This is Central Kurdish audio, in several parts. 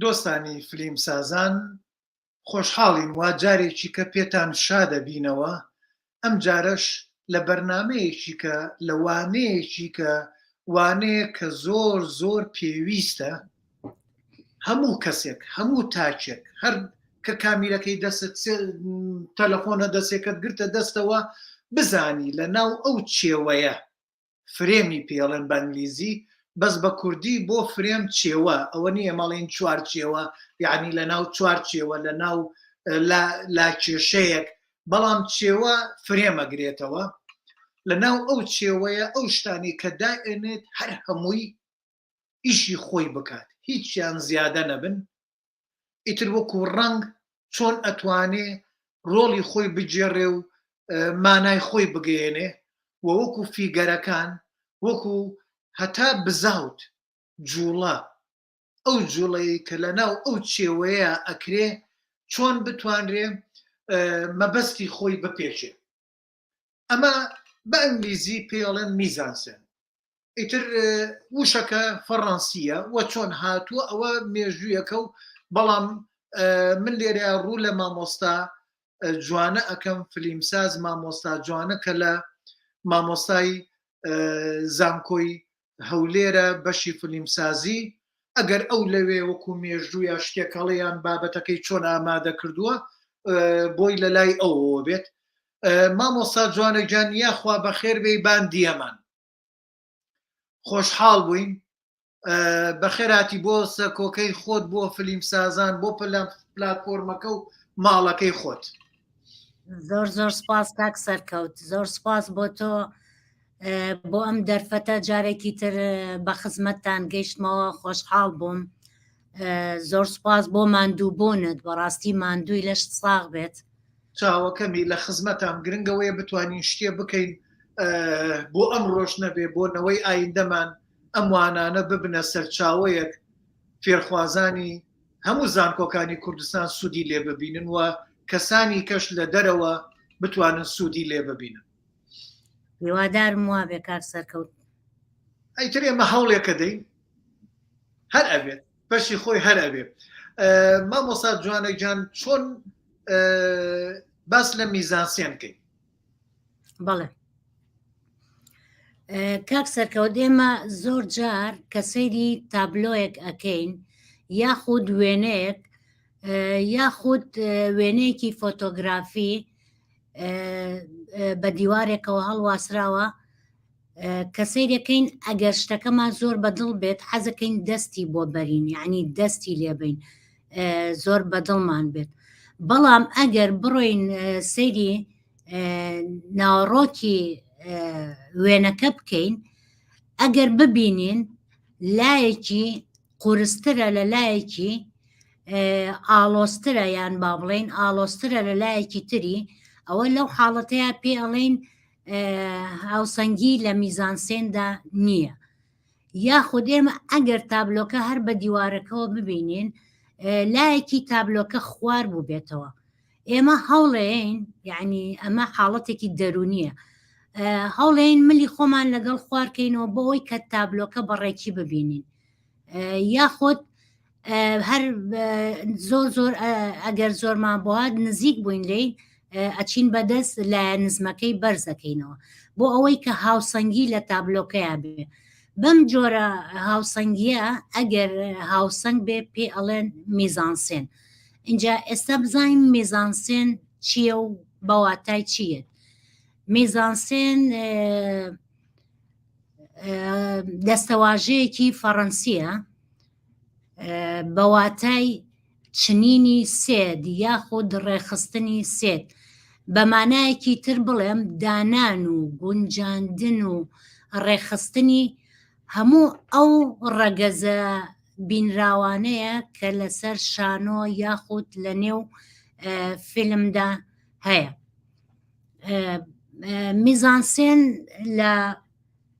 دۆستانی فلیم سازان خۆشحاڵین وا جارێکیکە پێتان شا دەبینەوە ئەم جارەش لە بەرنامەیەکیکە لە وانەیەکیکە وانەیە کە زۆر زۆر پێویستە هەموو کەسێک هەموو تاچێک هەر کە کامیرەکەی دەست تەلەفۆنە دەستێکت گرتە دەستەوە بزانی لە ناو ئەو چێوەیە فرێمی پێڵێن بە ئنگلیزی بەس بە کوردی بۆ فرێم چێوە ئەوە نییە مەڵین چوار چێوە یعنی لە ناو چوار چێوە لە ناو لا کێشەیەک بەڵام چێوە فرێمەگرێتەوە لە ناو ئەو چێوەیە ئەو شتانی کە دائێنێت هەر هەمووی ئیشی خۆی بکات هیچیان زیادە نەبن ئیتر وەکو ڕنگ چۆن ئەتوانێ ڕۆڵی خۆی بگێڕێ و مانای خۆی بگەێنێ و وەکو فیگەرەکان وەکو هەتا بزاوت جوڵە ئەو جوڵەیە کە لە ناو ئەو چێوەیە ئەکرێ چۆن بتوانرێ مەبەستی خۆی بپێچێ ئەمە بە ئەنگلیزی پێڵێن میزانسێن ئیتر وشەکە فەڕەنسیە وە چۆن هاتووە ئەوە مێژوویەکە و بەڵام من لێرە ڕوو لە مامۆستا جوانە ئەەکەم فلیمساز مامۆستا جوانە کە لە مامۆستای زانکۆی هەولێرە بەشی فلیمسازی، ئەگەر ئەو لەوێ وەکو مێژوو یا شتێک هەڵێ یان بابەتەکەی چۆن ئامادە کردووە بۆی لە لای ئەوەوە بێت مامۆستا جوانە گیان یاخوا بەخێر بێی بان دیەمان خۆشحاڵ بووین بەخێراتی بۆ سەکۆکەی خۆت بۆ فلیم سازان بۆ پلەم پلاتفۆرمەکە و ماڵەکەی خۆت زۆر زۆر سپاس کاک سەرکەوت زۆر سپاس بۆ تۆ بۆ ئەم دەرفەتە جارێکی تر بە خزمەتتان گەیشتمەوە خۆشحاڵ بووم زۆر سپاس بۆ ماندوو بوونت بەڕاستی ماندووی لەش ساغ بێت چاوەکەمی لە خزمەتان گرنگەوەیە بتوانین شتێ بکەین بۆ ئەم ڕۆژ نەبێ بۆ نەوەی ئایندەمان ئەم وانانە ببنە سەرچاوەیەک فێرخوازانی هەموو زانکۆکانی کوردستان سوودی لێ ببینن و کەسانی کەش لە دەرەوە بتوانن سوودی لێ ببینن هیوادارم وا بێ کار سەرکەوت ئەیتر ئێمە هەوڵێکە دەین هەر ئەبێت بەشی خۆی هەر ئەبێت مامۆسا جوانەجان چۆن باس لە میزانسیێن بکەین بەڵێ کاک سەرکەوت ئێمە زۆر جار کە سەیری تابلۆیەک ئەکەین یاخود وێنەیەک یاخود وێنەیەکی فۆتۆگرافی بە دیوارێکەوە هەڵواسراوە کە سەیرەکەین ئەگەر شتەکەمان زۆر بەدڵ بێت حەزەکەین دەستی بۆ بەرین یعنی دەستی لێبین زۆر بەدڵمان بێت بەڵام ئەگەر بڕۆین سەیری ناوەڕۆکی وێنەکە بکەین ئەگەر ببینین لایەکی قورسترە لە لایەکی ئاڵۆسترە یان با بڵین ئاڵۆسترە لە لایەکی تری ئەوە لەو حاڵەتەیە پێ ئەڵین هاوسەنگی لە میزانسێندا نییە یاخود ئێمە ئەگەر تابلۆکە هەر بە دیوارەکەەوە ببینین لایەکی تابلۆکە خوار بوو بێتەوە ئێمە هەوڵێن یعنی ئەمە حاڵەتێکی دەرونیە هەوڵێن ملی خۆمان لەگەڵ خوارکەینەوە بۆ ئەوی کە تابلۆکە بەڕێکی ببینین یاخود هەر زۆر زۆر ئەگەر زۆرمان بوات نزیک بووین لی ئەچین بەدەست لە نزمەکەی بەرزەکەینەوە بۆ ئەوەی کە هاوسەنگی لە تابلۆکەیان بێ بەم جۆرە هاوسەنگیە ئەگەر هاوسەنگ بێ پێ ئەڵێن میزانسێن اینجا ئێستا بزانین میزانسێن چییە و بەواتای چییە میزانسێن دەستەواژەیەکی فەڕەنسیە بە واتای چنینی سێد یاخود ڕێخستنی سێد بە مانایەکی تر بڵێم دانان و گونجاندن و ڕێخستنی هەموو ئەو ڕەگەزە بینراوانەیە کە لەسەر شانۆ یاخود لە نێو فیلمدا هەیە میزانسێن لە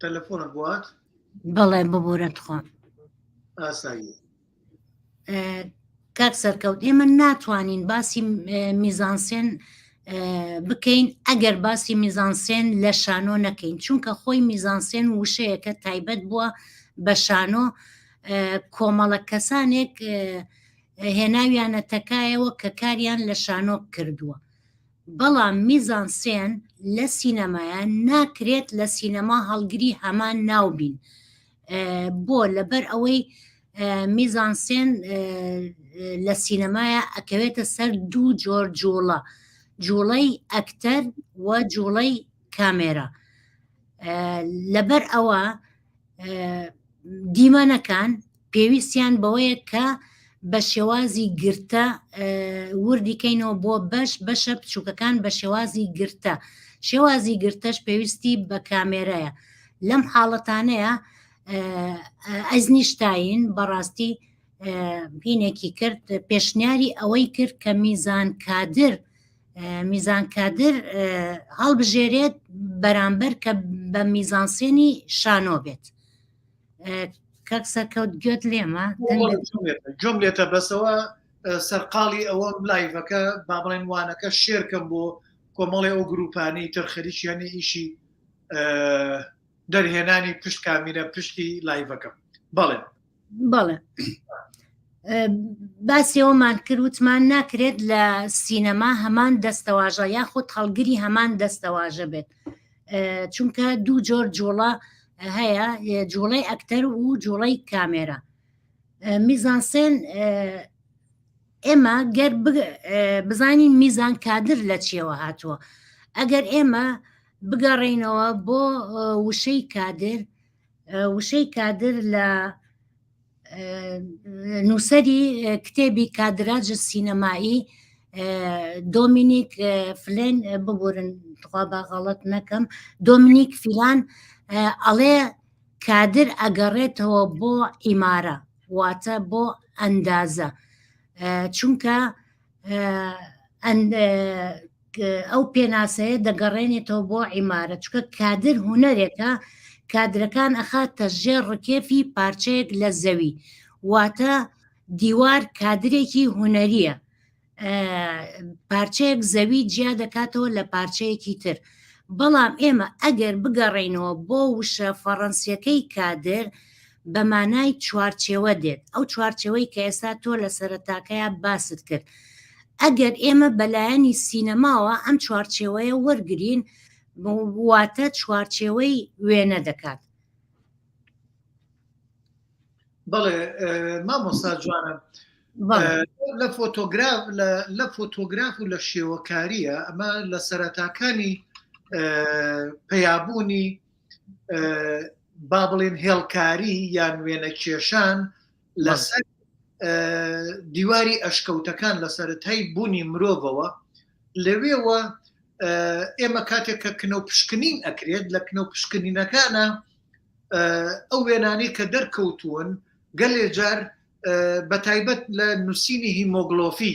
تەلەفۆنە بوات بەڵێ ببوورە تخۆم ئاسایی کاک سەرکەوت ئێمە ناتوانین باسی میزانسێن بکەین ئەگەر باسی میزانسێن لە شانۆ نەکەین چونکە خۆی میزانسێن وشەیەکە تایبەت بووە بە شانۆ کۆمەڵە کەسانێک هێناویانە تەکایەوە کە کاریان لە شانۆ کردووە بەڵام میزانسێن لە سینەمایە ناکرێت لە سینەما هەڵگری هەمان ناو بین بۆ لەبەر ئەوەی میزانسێن لە سینەمایە ئەکەوێتە سەر دوو جۆر جوڵە جوڵەی ئەکتەر و جوڵەی کامێرە لەبەر ئەوە دیمەنەکان پێویستیان بەوەیە کە بە شێوازی گرتە وردیکەینەوە بۆ بەش بەشە بچووکەکان بە شێوازی گرتە شێوازی گرتەش پێویستی بە کامێرایە لەم حاڵەتانەیە ئەزنیشتین بەڕاستی بینێکی کرد پێشنیاری ئەوەی کرد کە میزان کادر میزان کادر هەڵبژێرێت بەرامبەر کە بە میزانسێنی شانۆ بێت کەک سەرکەوت گوێت لێمە جۆم لێتە بەسەوە سەرقاڵی ئەوە لایڤەکە با بڵێن وانەکە شێرکەم بۆ کۆمەڵی ئەو گروپانەی تەرخەریشیانی ئیشی دەرهێنانی پشت کامیرە پشتی لایڤەکەم بەڵێ بەڵێ باسیەوەمان کرد وتمان ناکرێت لە سینەما هەمان دەستەواژە یاخود هەڵگری هەمان دەستەواژە بێت چونکە دوو جۆر جوڵە هەیە جوڵەی ئەکتەر و جوڵەی کامێرە میزانسێن ئێمە گەر بزانی میزان کادر لە چیەوە هاتووە ئەگەر ئێمە بگەڕینەوە بۆ وشەی کادر وشەی کادر لە نووسری کتێبی کادراج سینەمایی دۆمینیک فلێن ببورن خوا بە غەڵت نەکەم دۆمینیک فیلان ئەڵێ کادر ئەگەڕێتەوە بۆ ئیمارە واتە بۆ ئەندازە چونکە ئەو پێناسەیە دەگەڕێنێتەوە بۆ عیمارە چکە کادر هوەرێکە کادرەکان ئەخاتە ژێر ڕکێفی پارچەیەک لە زەوی واتە دیوار کادرێکی هوەریە پارچەیەک زەوی جیا دەکاتەوە لە پارچەیەکی تر بەڵام ئێمە ئەگەر بگەڕینەوە بۆ وشە فەڕەنسیەکەی کادر بە مانای چوارچێوە دێت ئەو چوارچەوەی کە ئێستا تۆ لە سەرتاکەیا باست کرد ئەگەر ئێمە بەلایەنی سینەماوە ئەم چوارچێوەیە وەرگین واتە چوارچێوەی وێنە دەکات بەڵێ مامۆستا جوانە لە فۆتۆگراف لە فۆتۆگراف و لە شێوەکاریە ئەمە لە سەرەتاکانی پەیابوونی با بڵێن هێڵکاری یان وێنە کێشان لەسەر دیواری ئەشکەوتەکان لە سەرەتای بوونی مرۆڤەوە لەوێوە ئێمە کاتێک کە کنە و پشکنین ئەکرێت لە کنە و پشکنینەکانە ئەو وێنانی کە دەرکەوتوون گەلێ جار بە تایبەت لە نووسینی هیمۆگلۆفی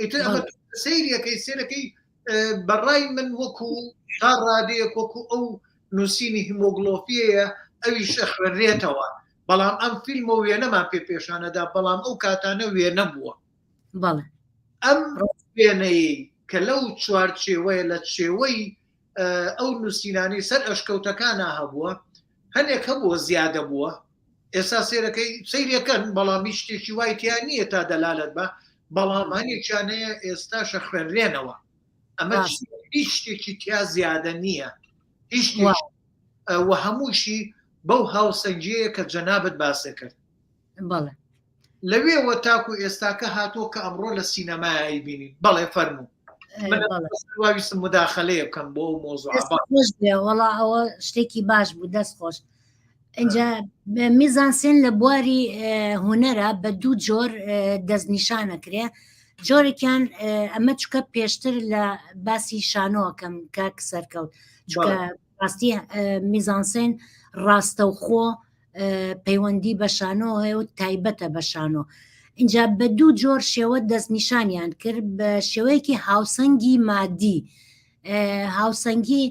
ئیتر ئەمە سیرەکەی سێرەکەی بەڕای من وەکو تا ڕادەیەک وەکو ئەو نووسینی هیمۆگلۆفیەیە ئەوی شەخوێنرێتەوە بەڵام ئەم فیلمە وێنەمان پێ پێشانەدا بەڵام ئەو کاتانە وێنە بووە بەڵێ ئەم وێنەی کە لەو چوارچێوەیە لە چێوەی ئەو نووسینانی سەر ئەشکەوتەکانە هەبووە هەنێک هەبووە زیادە بووە ئێستا سێرەکەی سیرەکەن بەڵامی شتێکی وای تیا نییە تا دەلالت بە بەڵامانێکیانەیە ئێستاشە خوێنرێنەوە ئەمە هیچ شتێکی تیا زیادە نییە هیچ وە هەمووشی بەو هاوسەنگیەیە کە جەنابەت باسە کرد بەڵێ لەوێوە تاکو ئێستاکە هاتووە کە ئەمڕۆ لە سینەمای ئەیبینین بەڵێ فەرموو واویستم مداخلەیە بکەم بۆ ئەو مۆزوەڵا ئەوە شتێکی باش بوو دەست خۆش ئەجا میزانسێن لە بواری هوەرە بە دوو جۆر دەستنیشانەکرێ جۆرێکیان ئەمە چکە پێشتر لە باسی شانۆەکەم کاک سەرکەوت ڕاستی میزانسێن ڕاستەوخۆ پەیوەندی بە شانۆ هەیە و تایبەتە بە شانۆ اینجا بە دوو جۆر شێوە دەستنیشانیان کرد بە شێوەیەکی هاوسەنگی مادی هاوسەنگی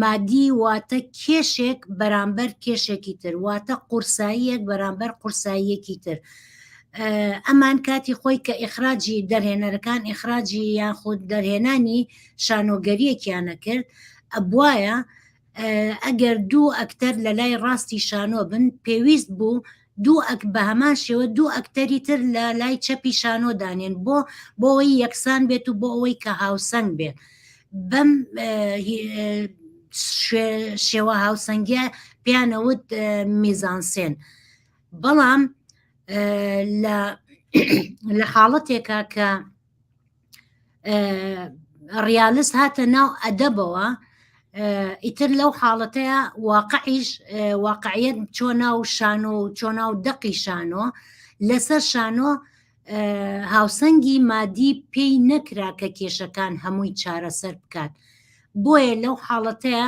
مادی واتە کێشێک بەرامبەر کێشێکی تر واتە قورساییەک بەرامبەر قورساییەکی تر ئەمان کاتی خۆی کە ئیخراجی دەرهێنەرەکان ئیخراجی یاخود دەرهێنانی شانۆگەریەکیانە کرد ئەبواە ئەگەر دوو ئەکتەر لە لای ڕاستی شانۆ بن پێویست بوو دوو ئەک بە هەمان شێوە دوو ئەکتەری تر لە لای چەپی شانۆ دانێن بۆ بۆەوەی یەکسان بێت و بۆ ئەوەی کە هاوسەنگ بێت بەم شێوە هاوسەنگە پێیانەوت میزانسێن بەڵام لە حاڵەتێکە کە ڕیالست هاتە ناو ئەدەبەوە ئیتر لەو حاڵەتەیە واقعیش واقعیت چۆ ناو شانۆ و چۆ ناو دەقی شانۆ لەسەر شانۆ هاوسەنگی مادی پێی نەکرا کە کێشەکان هەمووی چارەسەر بکات بۆیە لەو حاڵەتەیە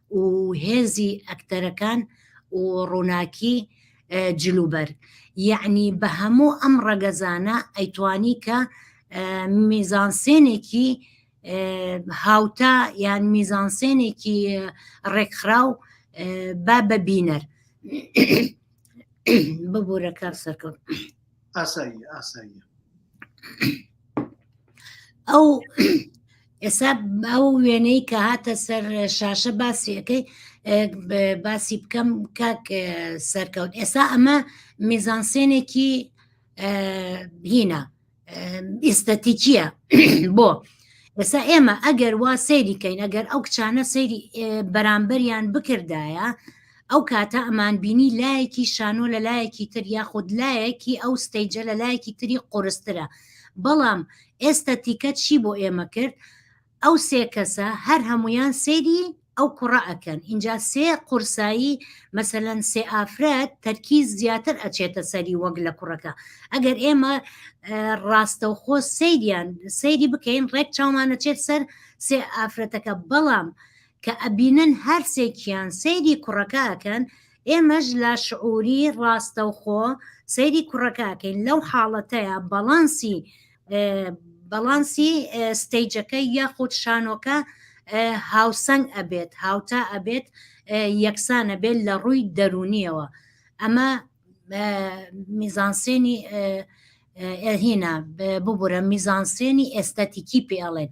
و هێزی ئەکتەرەکان و ڕووناکی جل و بەرگ یەعنی بە هەموو ئەم ڕەگەزانە ئەیتوانی کە میزانسێنێکی هاوتا یان میزانسێنێکی ڕێکخراو با بە بینەر ببوورە کار سەرکەوت. ئاسایی ئاسایی ئەو ئێستا ئەو وێنەی کە هاتە سەر شاشە باسیەکەی باسی بکەم کاک سەرکەوت ئێستا ئەمە میزانسێنێکی هینە ئیستەتیکیە بۆ ئێستا ئێمە ئەگەر وا سەیریکەین ئەگەر ئەو کچانە سەیری بەرامبەریان بکردایە ئەو کاتە ئەمان بینی لایەکی شانۆ لە لایەکی تر یاخود لایەکی ئەو ستەیجە لە لایەکی تری قورسترە بەڵام ئێستە تیکە چی بۆ ئێمە کرد ئەو سێ کەسە هەر هەمویان سەیری ئەو کوڕە ئەکەن اینجا سێ قورسایی مەسەەن سێ ئافرەت تەرکی زیاتر ئەچێتە سەری وەک لە کوڕەکە ئەگەر ئێمە ڕاستەوخۆ سەیریان سەیری بکەین ڕێک چاومانەچێت سەر سێ ئافرەتەکە بەڵام کە ئەبینن هەرسێکیان سەیری کوڕەکە ئەکەن، ئێمەش لە شعوری ڕاستەوخۆ سەیری کوڕەکە ئەکەین، لەو حاڵەتەیا بەڵانسی بەڵانسی ستەیجەکە یاخود شانۆکە هاوسەنگ ئەبێت، هاوتا ئەبێت، یەکسان ئەبێت لە ڕووی دەروونیەوە، ئەمە میزانسێنی هینا ببورە میزانسێنی ئێستەتیکی پێ ئەڵێن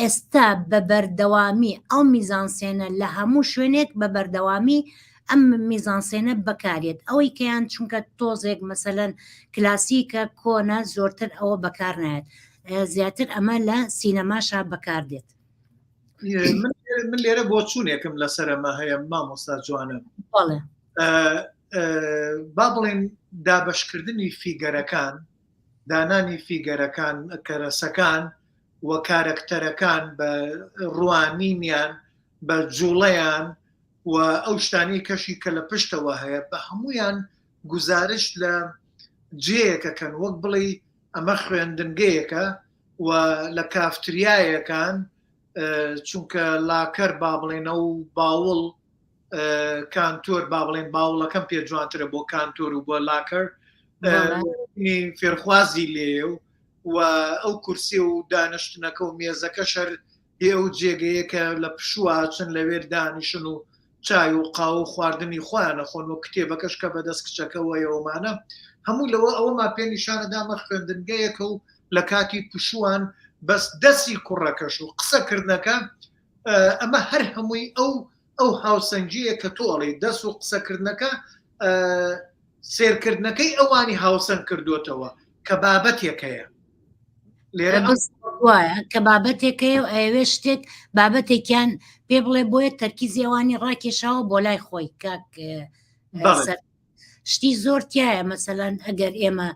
ئێستا بە بەردەوامی ئەو میزانسێنە لە هەموو شوێنێک بە بەردەوامی ئەم میزانسێنە بەکارێت ئەوەی کەیان چونکە تۆزێک مەسەەن کلاسیکە کۆنە زۆرتر ئەوە بەکار نایەت زیاتر ئەمە لە سینەماشا بەکار دێت من لێرە بۆ چوونێکم لەسەرمە هەیە مامۆستا جوانە بەڵێ با بڵێن دابشکردنی فیگەرەکان دانانی فیگەرەکان کەرەسەکان و کارەکتەرەکان بە ڕوانینیان بە جوڵەیان و ئەو شتانی کەشی کە لە پشتەوە هەیە بە هەمویان گزارش لە جێیەکەکەن وەک بڵێ ئەمە خوێندنگەیەەکە و لە کافتریایەکان چونکە لاکەر با بڵێنە و باوڵ کانتۆر با بڵێن باوڵەکەم پێ جوانترە بۆ کانتۆر و بۆ لاکەر فێرخوازی لێ و و ئەو کورسی و دانیشتنەکە و مێزەکە شەر بێ ئەو جێگەیە کە لە پشوواچن لەوێ دانیشن و چای و قاو و خواردنی خۆیانە خۆن و کتێبەکەش کە بەدەست کچەکەەوەیەوەمانە هەموو لەوە ئەوەما پێ نیشانەدامە خوێندنگەیەکە و لە کاتی پشووان بەس دەسی کوڕەکەش و قسەکردنەکە ئەمە هەر هەمووی ئەو ئەو هاوسەنگیە کە تۆ ئەڵێی دەس و قسەکردنەکە سێرکردنەکەی ئەوانی هاوسەنگ کردوتەوە کە بابەتێک هەیە لێرە وایە کە بابەتێکەیە و ئەوێ شتێک بابەتێکیان پێ بڵێ بۆیە تەرکیزیێوانی ڕاکێشاوە بۆ لای خۆی کاک شتی زۆر تایە مەسەلەن ئەگەر ئێمە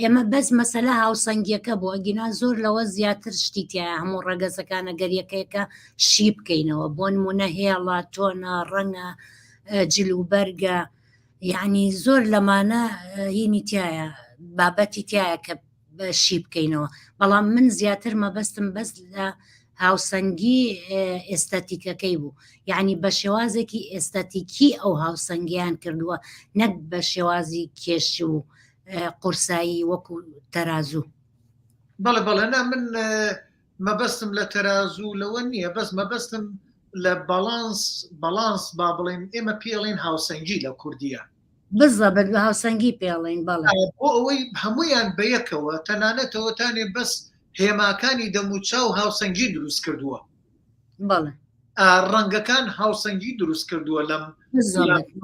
ئێمە بەس مەسەلا هاوسەنگیەکە بۆ ئەگینا زۆر لەوە زیاتر شتی تیا هەموو ڕەگەزەکانە گەریەکەیەکە شی بکەینەوە بۆ نمونە هێڵە تۆنە ڕەنگە جلوبەرگە یعنی زۆر لەمانە هینی تایە بابەتی تایە کە شی بکەینەوە بەڵام من زیاتر مەبەستم بەس لە هاوسەنگی ئێستاتیکەکەی بوو یعنی بە شێوازێکی ئێستاتیکی ئەو هاوسەنگیان کردووە نەک بە شێوازی کێش و قورسایی وەکو تەرازوو بەڵێ بەڵێ نا من مەبەستم لە تەرازوو لەوە نییە بەس مەبەستم لە باڵانس باڵانس با بڵێن ئێمە پێڵین هاوسەنگی لە کوردیە بزەبت بە هاوسەنگی پێڵین بەڵ بۆ ئەوەی هەمویان بەیەکەوە تەنانەتەوەتانێ بەس هێماکانی دەموچا و هاوسەنگی دروست کردووە بەڵێ ڕەنگەکان هاوسەنگی دروست کردووە لەم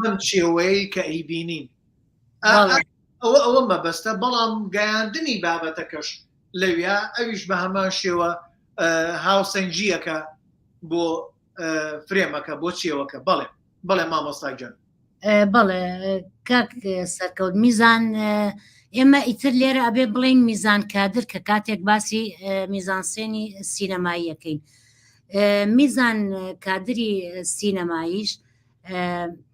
من چێوەیە کە ئەیبینین ئەوە ئەوە مەبەستە بەڵام گەیاندنی بابەتەکەش لەویا ئەویش بە هەمان شێوە هاوسەنگیەکە بۆ فرێمەکە بۆ چێوەکە بەڵێ بەڵێ مامۆستا گەن بەڵێ کاک سەرکەوت میزان ئێمە ئیتر لێرە ئەبێ بڵین میزان کادر کە کاتێک باسی میزانسێنی سینەماییەکەین میزان کادری سینەماییش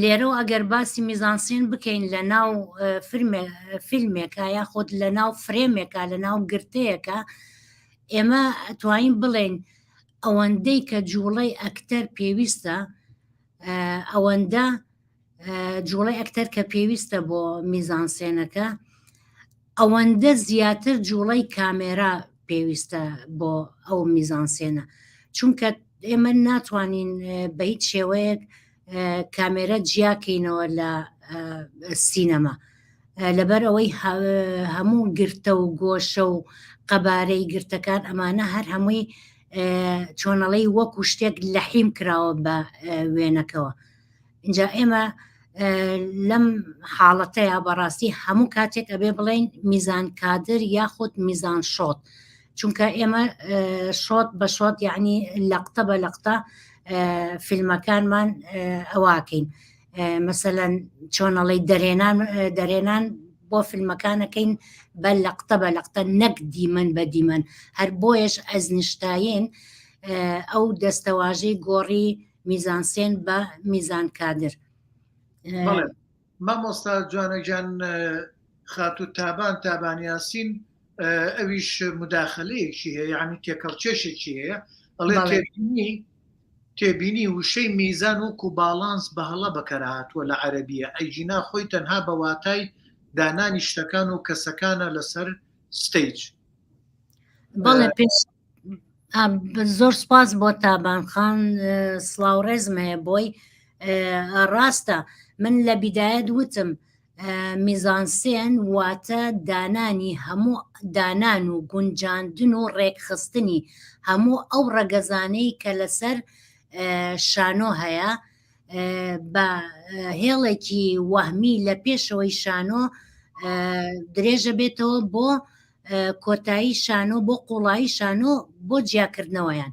لێرەوە ئەگەر باسی میزانسین بکەین لە ناو فیلمێکە یا خۆت لە ناو فرێمێکە لە ناو گرتەیەەکە ئێمە توانین بڵێن ئەوەندەی کە جوڵەی ئەکتەر پێویستە ئەوەندە جوڵەی ئەکتەر کە پێویستە بۆ میزانسێنەکە ئەوەندە زیاتر جوڵەی کامێرا پێویستە بۆ ئەو میزانسێنە چونکە ئێمە ناتوانین بە هیچ شێوەیەک کامێرە جیاکەینەوە لە سینەما لەبەر ئەوەی هەموو گرتە و گۆشە و قەبارەی گرتەکان ئەمانە هەر هەمووی چۆنەڵی وەکو شتێک لە حیم کراوە بە وێنەکەەوە اینجا ئێمە لەم حاڵەتەیە بەڕاستی هەموو کاتێک ئەبێ بڵین میزان کادر یاخود میزان شۆت چونکە ئێمە شۆت بە شۆت یعنی لەقتە بە لەقتە فیلمەکانمان ئەواکەین مەسەەن چۆنەڵی دەرێنان دەرێنان بۆ فیلمەکانەکەین بە لەقتە بە لەقتە نەک دیمەن بە دیمەن هەر بۆیش ئەزنیشتاین ئەو دەستەواژەی گۆڕی میزانسێن بە میزان کادر مامۆستا جوانەگیان خاتو تابان تابانیاسین ئەویش مداخلەیەکی هەیە یعنی تێکەڵچێشێکی هەیە ئەڵێ تێبینی تێبینی وشەی میزان وکو باڵانس بە هەڵە بەکەرهاتووە لە عەربیە ئەیگینا خۆی تەنها بە واتای دانانی شتەکان و کەسەکانە لەسەر ستیج بەڵێ زۆر سپاس بۆ تابانخان سلااو ڕێزم هەیە بۆی ڕاستە من لە بیدایەت وتم میزانسێن واتە دانانی هەموو دانان و گونجاندن و ڕێکخستنی هەموو ئەو ڕەگەزانەی کە لەسەر شانۆ هەیە بە هێڵێکی وەهمی لە پێشەوەی شانۆ درێژە بێتەوە بۆ کۆتایی شانۆ بۆ قوڵایی شانۆ بۆ جیاکردنەوەیان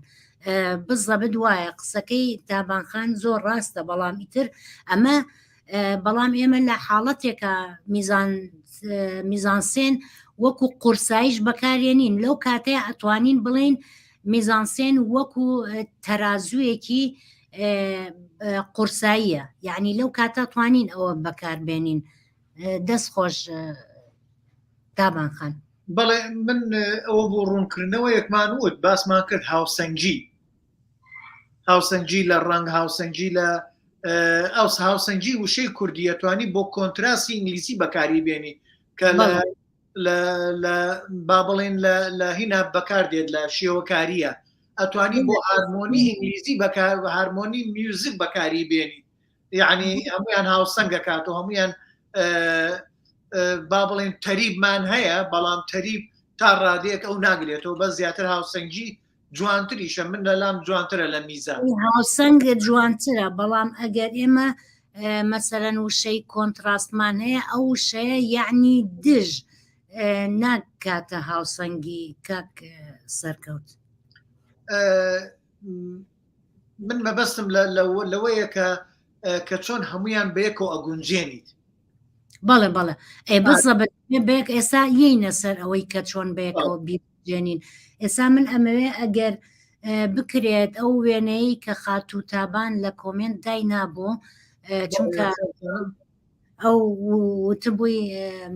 بزەبت وایە قسەکەی تابانخان زۆر ڕاستە بەڵام ئیتر ئەمە بەڵام ئێمە لە حاڵەتێکە میزان میزانسێن وەکو قورسایش بەکارێنین لەو کاتەیە ئەتوانین بڵین میزانسێن وەکو تەرازوویەکی قورساییە یعنی لەو کاتە توانین ئەوە بەکاربێنین دەست خۆش دابان خان بەڵێ من ئەوە بۆ ڕوونکردنەوە یەکمان وت باسمان کرد هاوسەنگی هاوسەنگی لە ڕنگ هاوسەنگی لە ئەو هاوسەنگی وشەی کوردیە توانی بۆ کۆنتراسی ئینگلیسی بەکاری بێنی کە لە با بڵێن لە هینا بەکار دێت لە شێوەکاریە ئەتوانی بۆ هارمۆنی ئینگلیزی بەکار هارمۆنی میوزیک بەکاری بێنی یعنی هەمویان هاوسەنگە کات و هەمویان با بڵێن تەریبمان هەیە بەڵام تەریب تا ڕادێک ئەو ناگرێتەوە بە زیاتر هاوسەنگی جوانتریشە من لە لام جوانترە لە میزان هاوسەنگ جوانترە بەڵام ئەگەر ئێمە مەسەرەن وشەی کۆنتراستمان هەیە ئەو وشەیە یعنی دژ ناکاتە هاوسەنگی کاک سەرکەوت من مەبەستم لەوەیە کە کە چۆن هەمویان بەیەکەوە ئەگونجێنیت بەڵێ بەڵێ ئێ بەزە بەێک ئێسا یینە سەر ئەوەی کە چۆن بەیەکەوە بیجێنین ئێسا من ئەمەوێ ئەگەر بکرێت ئەو وێنەی کە خاتوو تابان لە کۆمنت دای نابوو چونکە ئەو وتبووی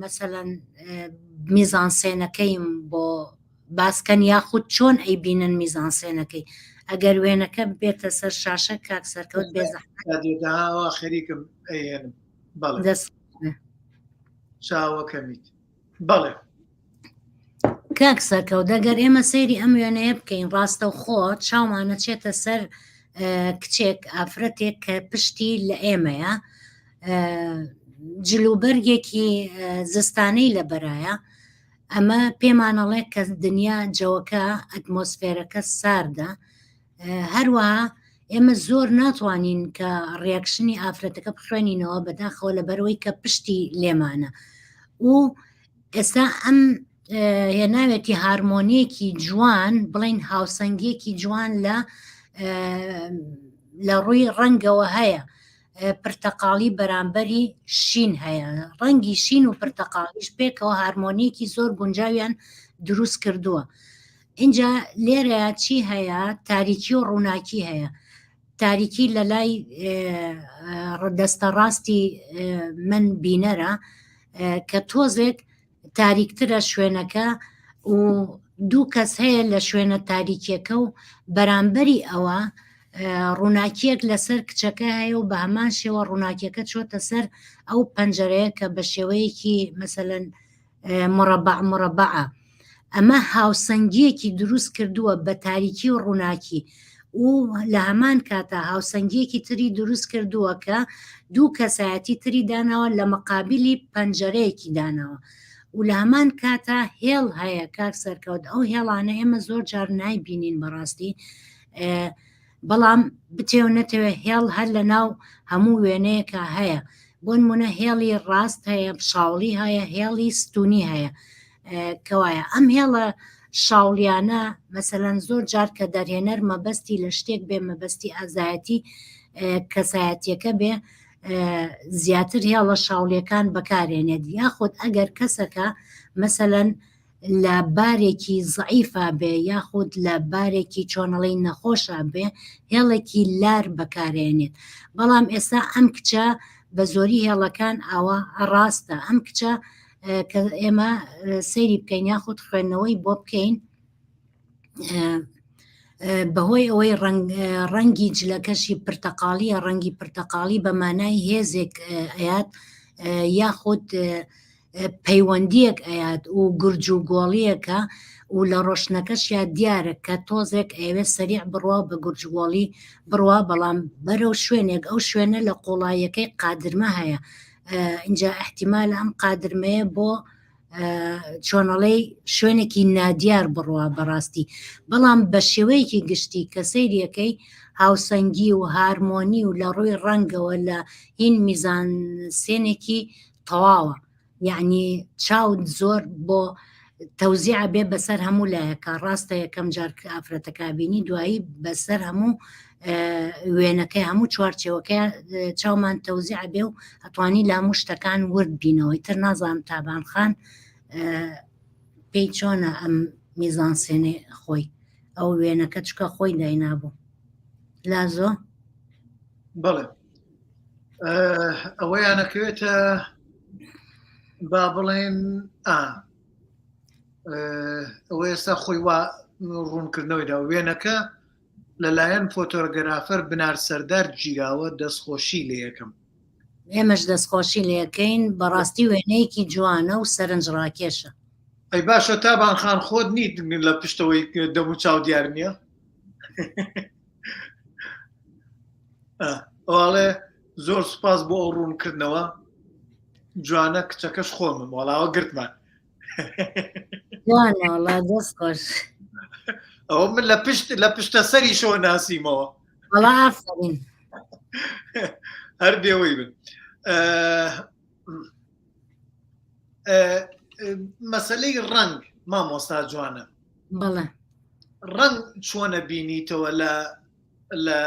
مەسەلەن میزانسێنەکەیم بۆ باسکەن یاخود چۆن ئەی بینن میزانسێنەکەی ئەگەر وێنەکە بێتە سەر شاشە کاک سەرکەوت بێزەحمەتەوە خەریکم دەست چاوەکەمیت بەڵێ کاک سەرکەوت دەگەر ئێمە سەیری ئەم وێنەیە بکەین ڕاستە و خۆ چاومانە چێتە سەر کچێک ئافرەتێک کە پشتی لە ئێمەیە جلوبەرگێکی زستانەی لە بەرایە ئەمە پێمانەڵێ کە دنیا جەوەکە ئەتمۆسفێرەکە ساردە هەروەها ئێمە زۆر ناتوانین کە ڕیاکشنی ئافرەتەکە بخوێنینەوە بەداخەوە لە بەرەوەی کە پشتی لێمانە و ئێستا ئەم هێناوێتی هارمۆنیەکی جوان بڵین هاوسەنگێکی جوان لە لە ڕووی ڕەنگەوە هەیە پرتەقاڵی بەرامبەری شین هەیە ڕەنگی شین و پرتەقاڵیش پێکەوە هارمۆنیەکی زۆر گونجاویان دروست کردووە ئینجا لێرەیە چی هەیە تاریکی و ڕووناکی هەیە تاریکی لە لای ڕدەستە ڕاستی من بینەرە کە تۆزێک تاریکترە شوێنەکە و دوو کەس هەیە لە شوێنە تاریکیەکە و بەرامبەری ئەوە ڕووناکیەک لەسەر کچەکە هەیە و بە هەمان شێوە ڕووناکیەکە چۆتە سەر ئەو پەنجەرەیە کە بە شێوەیەکی مەسەەن مربع مربعە ئەمە هاوسەنگیەکی دروست کردووە بە تاریکی و ڕووناکی و لە هەمان کاتە هاوسەنگیەکی تری دروست کردووە کە دوو کەسایەتی تری داناوە لە مقابلی پەنجەرەیەکی داناوە و لە هەمان کاتە هێڵ هەیە کاک سەرکەوت ئەو هێڵانە ئێمە زۆر جار نایبینین بەڕاستی بەڵام بتێو نەتەوێ هێڵ هەر لە ناو هەموو وێنەیەکە هەیە بۆن منە هێڵی ڕاست هەیە شاوڵی هەیە هێڵی ستونی هەیە کەوایە ئەم هێڵە شاولیانە مەسەەن زۆر جار کە دەرهێنەر مەبەستی لە شتێک بێ مەبەستی ئازایەتی کەسایەتیەکە بێ زیاتر هێڵە شاولیەکان بەکارێنێت یاخود ئەگەر کەسەکە مەسەەن لە بارێکی زەعیفا بێ یاخود لە بارێکی چۆنەڵی نەخۆشا بێ هێڵێکی لار بەکارێنێت بەڵام ئێستا ئەم کچە بە زۆری هێڵەکان ئاوا ڕاستە ئەم کچە کە ئێمە سەیری بکەین یاخود خوێندنەوەی بۆ بکەین بەهۆی ئەوەی ڕەنگی جلەکەشی پرتەقاڵیە ڕەنگی پرتەقاڵی بە مانای هێزێک ئەات یاخود پەیوەندیەک ئەیات و گرج و گۆڵیەکە و لە ڕۆشنەکەشیا دیارە کە تۆزێک ئەیەوێ سەریع بڕوا و بە گرج گۆڵی بڕوا بەڵام بەرەو شوێنێک ئەو شوێنە لە قوڵاییەکەی قادرمە هەیە ئینجا احتیمال ئەم قادرمەیە بۆ چۆنەڵەی شوێنێکی نادیار بڕوا بەڕاستی بەڵام بە شێوەیەکی گشتی کە سەیریەکەی هاوسەنگی و هارمۆنی و لە ڕووی ڕەنگەوە لە هین میزان سێنێکی تەواوە یعنی چاو زۆر بۆ تەوزیع بێ بەسەر هەموو لایەکە ڕاستە یەکەم جار ئافرەتەکبینی دوایی بەسەر هەموو وێنەکەی هەموو چوارچەوەکە چاومان تەوزیع بێ و ئەتوانی لە هەموو شتەکان ورد بینەوەی تر نازانم تابان خان پێی چۆنە ئەم میزان سێنێ خۆی ئەو وێنەکە چکە خۆی داینابوو لازۆ بەڵێ ئەوەیانەکەوێتە با بڵێن ئا ئەو ئێستا خۆی وا ڕوونکردنەوەیدا وێنەکە لەلایەن فۆتۆگەرافەر بنار سەردار گیراوە دەستخۆشی لە یەکەم ئێمەش دەستخۆشی لەکەین بەڕاستی وێنەیەکی جوانە و سەرنج ڕاکێشە ئەی باشە تابان خان خۆت نیت لە پشتەوەی دەمو چاو دیار نییە ئەڵێ زۆر سپاس بۆ ئەو ڕوونکردنەوە جوانە کچەکەش خۆمم وەڵاوە گرتمان وانەڵا دەست خۆش ئەو من لە پشت لە پشتە سەری شۆ ناسیمەوە هەڵا ئافرین هەر بێەوەی بن مەسلەی ڕنگ مامۆستا جوانە بەڵێ ڕنگ چۆنە بینیتەوە لە لە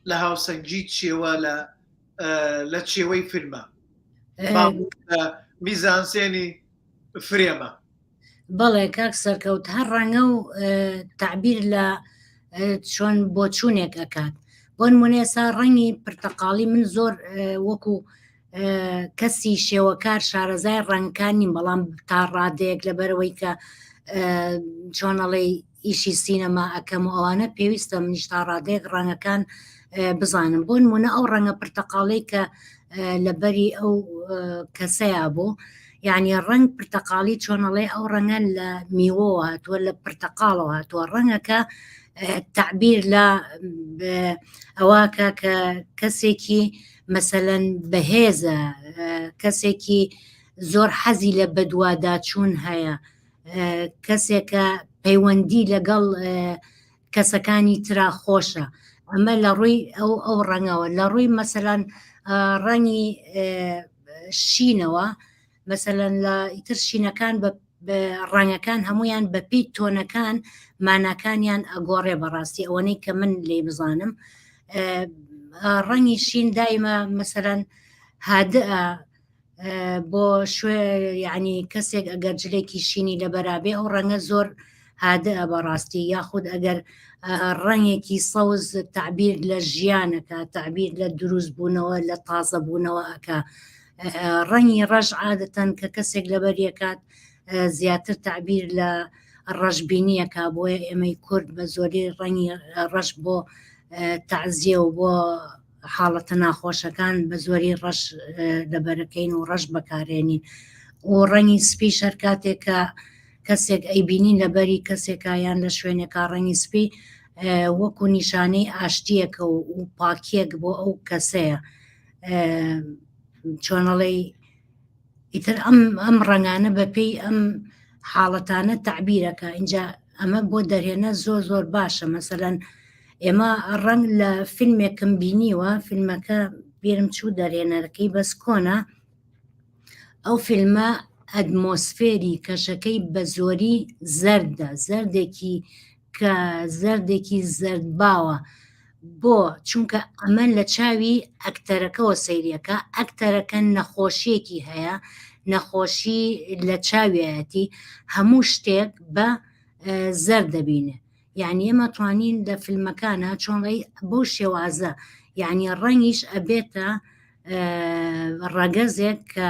لە هاوسەنگی چێوە لە لە چێوەی فیلمە میزانسێنی فرێمە بەڵێ کاک سەرکەوت هەر ڕەنگە و تعبیر لە چۆن بۆچوونێک ئەکات بۆ نمونێ سا ڕەنگی پرتەقاڵی من زۆر وەکو کەسی شێوەکار شارەزای ڕەنگکان نیم بەڵام تا ڕادەیەک لەبەرەوەی کە چۆنەڵی ئیشی سینەما ئەکەم و ئەوانە پێویستە منیش تا ڕادەیەک ڕەنگەکان بزانم بۆ نمونە ئەو ڕەنگە پرتەقاڵەی کە لەبەری ئەو کەسەیە بۆ یعنی ڕنگ پرتەقاڵی چۆنەڵێ ئەو ڕەنگە لە میوە هاتووە لە پرتەقاڵەوە هاتووە ڕەنگەکە تعبیر لە ئەوەکە کە کەسێکی مەسەەن بەهێزە کەسێکی زۆر حەزی لە بەدواداچوون هەیە کەسێکە پەیوەندی لەگەڵ کەسەکانی ترا خۆشە ئەمە لە ڕووی ئەو ئەو ڕەنگەوە لە ڕووی مەسەلاەن ڕەنی شینەوە مەسەەن لە ئیتر شینەکان بە ڕەنگەکان هەمویان بەپی تۆنەکان ماناکانیان ئەگۆڕێ بەڕاستی ئەوەنەی کە من لی بزانم ڕەنی شین دایمە مەسەەن هادە بۆ شوێ یعنی کەسێک ئەگەر جلێکی شینی لە بەرابێ ئەو ڕەنگە زۆر هادە بەڕاستی یاخود ئەگەر ڕەنگێکی سەوز تعبیر لە ژیانەکە تعبیر لە دروست بوونەوە لە تازە بوونەوە ئەکا ڕەنگی ڕەژ عادەتەن کە کەسێک لەبەر یەکات زیاتر تعبیر لە ڕەشببینیەکە بۆیە ئێمەی کورد بە زۆری ڕەنگی ڕەش بۆ تعزیە و بۆ حاڵەتە ناخۆشەکان بە زۆری ڕەش دەبەرەکەین و ڕەش بەکارێنین و ڕەنگی سپی شەر کاتێک کە کەسێک ئەیبینی لەبەری کەسێکە یان لە شوێنێکا ڕەنگی سپی وەکو نیشانەی ئاشتیەکە و پاکیەک بۆ ئەو کەسەیە چۆنەڵی ئیتر ئەم ئەم ڕەنگانە بەپێی ئەم حاڵەتانە تعبیرەکە اینجا ئەمە بۆ دەرهێنە زۆر زۆر باشە مەسەەن ئێمە ڕەنگ لە فیلمێکم بینیوە فیلمەکە بیرم چوو دەرێنەرەکەی بەس کۆنا ئەو فیلمە ئەدمۆسفێری کەشەکەی بە زۆری زەردە زەردێکی کە زەردێکی زەردباوە بۆ چونکە ئەمە لە چاوی ئەکتەرەکەەوە سەیرەکە ئەکتەرەکە نەخۆشیەکی هەیە نەخۆشی لە چاویەتی هەموو شتێک بە زەر دەبینێ یعنی ئمە توانین لە فیلمەکانە چۆنڕی بۆ شێوازە یعنی ڕەنگیش ئەبێتە ڕەگەزێک کە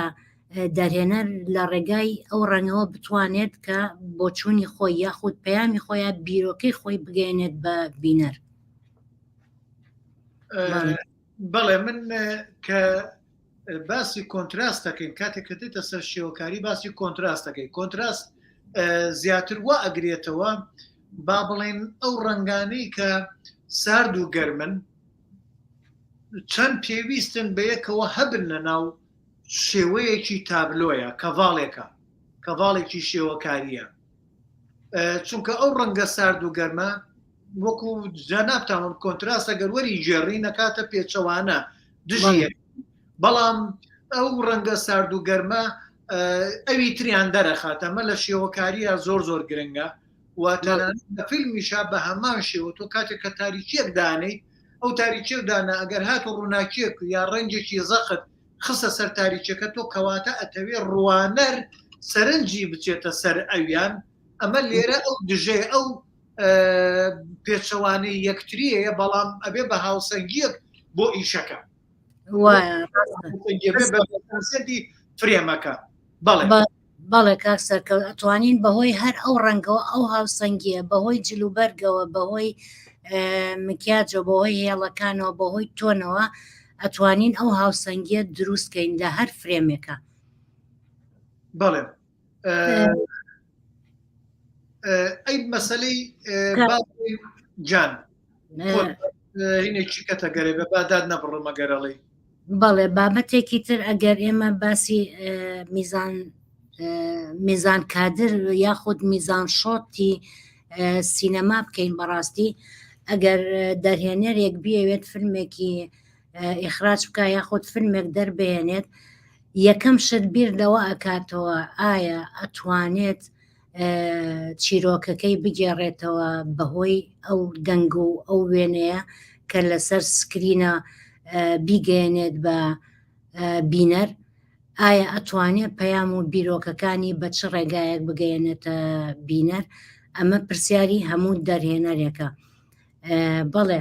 دەرهێنەر لە ڕێگای ئەو ڕەنگەوە بتوانێت کە بۆچوونی خۆی یاخود پەیامی خۆیان بیرۆکەی خۆی بگەێنێت بە بینەر بەڵێ من کە باسی کۆنتراست دەکەین کاتێک کە دێتە سەر شێوەکاری باسی کۆنتراست دەکەی کۆنتراست زیاتر وا ئەگرێتەوە با بڵێن ئەو ڕنگانەی کە سارد و گەرمن چەند پێویستن بە یەکەوە هەبن لە ناو شێوەیەکی تابلۆیە کەڤاڵێکە کەڤاڵێکی شێوەکاریە چونکە ئەو ڕەنگە سارد و گەرمە وەکو جانابتاون کۆنتراسە گەروەری گێڕی نەکاتە پێچەوانە دژی بەڵام ئەو ڕەنگە سارد و گەرمە ئەوی تریان دەرەخاتەمە لە شێوەکاریە زۆر زۆر گرنگە و تەنانەت لە فیلمیشا بە هەمان شێوە تۆ کاتێک کە تاریکیەک دانێیت ئەو تاریکی و دانا ئەگەر هات و ڕووناکیەک و یا ڕەنجێکی زەخت خستە سەر تاریکەکە تۆ کەواتە ئەتەوێ ڕوانەر سەرنجی بچێتە سەر ئەویان ئەمە لێرە ئەو دژێ ئەو پێچەوانەی یەکتریەیە بەڵام ئەبێ بە هاوسەنگیەک بۆ ئیشەکە فرێمەکە بەڵێ بەڵێ کاک سەرکەوت ئەتوانین بەهۆی هەر ئەو ڕەنگەوە ئەو هاوسەنگیە بەهۆی جل و بەرگەوە بەهۆی مکیاجەوە بەهۆی هێڵەکانەوە بەهۆی تۆنەوە ئەتوانین ئەو هاوسەنگیە دروستکەین لە هەر فرێمێکە بەڵێ ئەی مەسلەی جان هینێکی کەتەگەرێ بە بادات نەبڕمە گەرەڵی بەڵێ بابەتێکی تر ئەگەر ئێمە باسی میزان میزان کادر یاخود میزان شۆتی سینەما بکەین بەڕاستی ئەگەر دەرهێنەرێک بێوێت فرمێکی ئیخراج بکە یاخود فرمێک دەربێنێت یەکەم شت بیر لەوە ئەکاتەوە ئایا ئەتوانێت چیرۆکەکەی بگێڕێتەوە بەهۆی ئەو دەنگ و ئەو وێنەیە کە لەسەر سکرینە بیگەێنێت بە بینەر ئایا ئەتوانێت پەیام و بیرۆکەکانی بە چ ڕێگایەک بگەێنێتە بینەر ئەمە پرسیاری هەموو دەرهێنەرێکە بەڵێ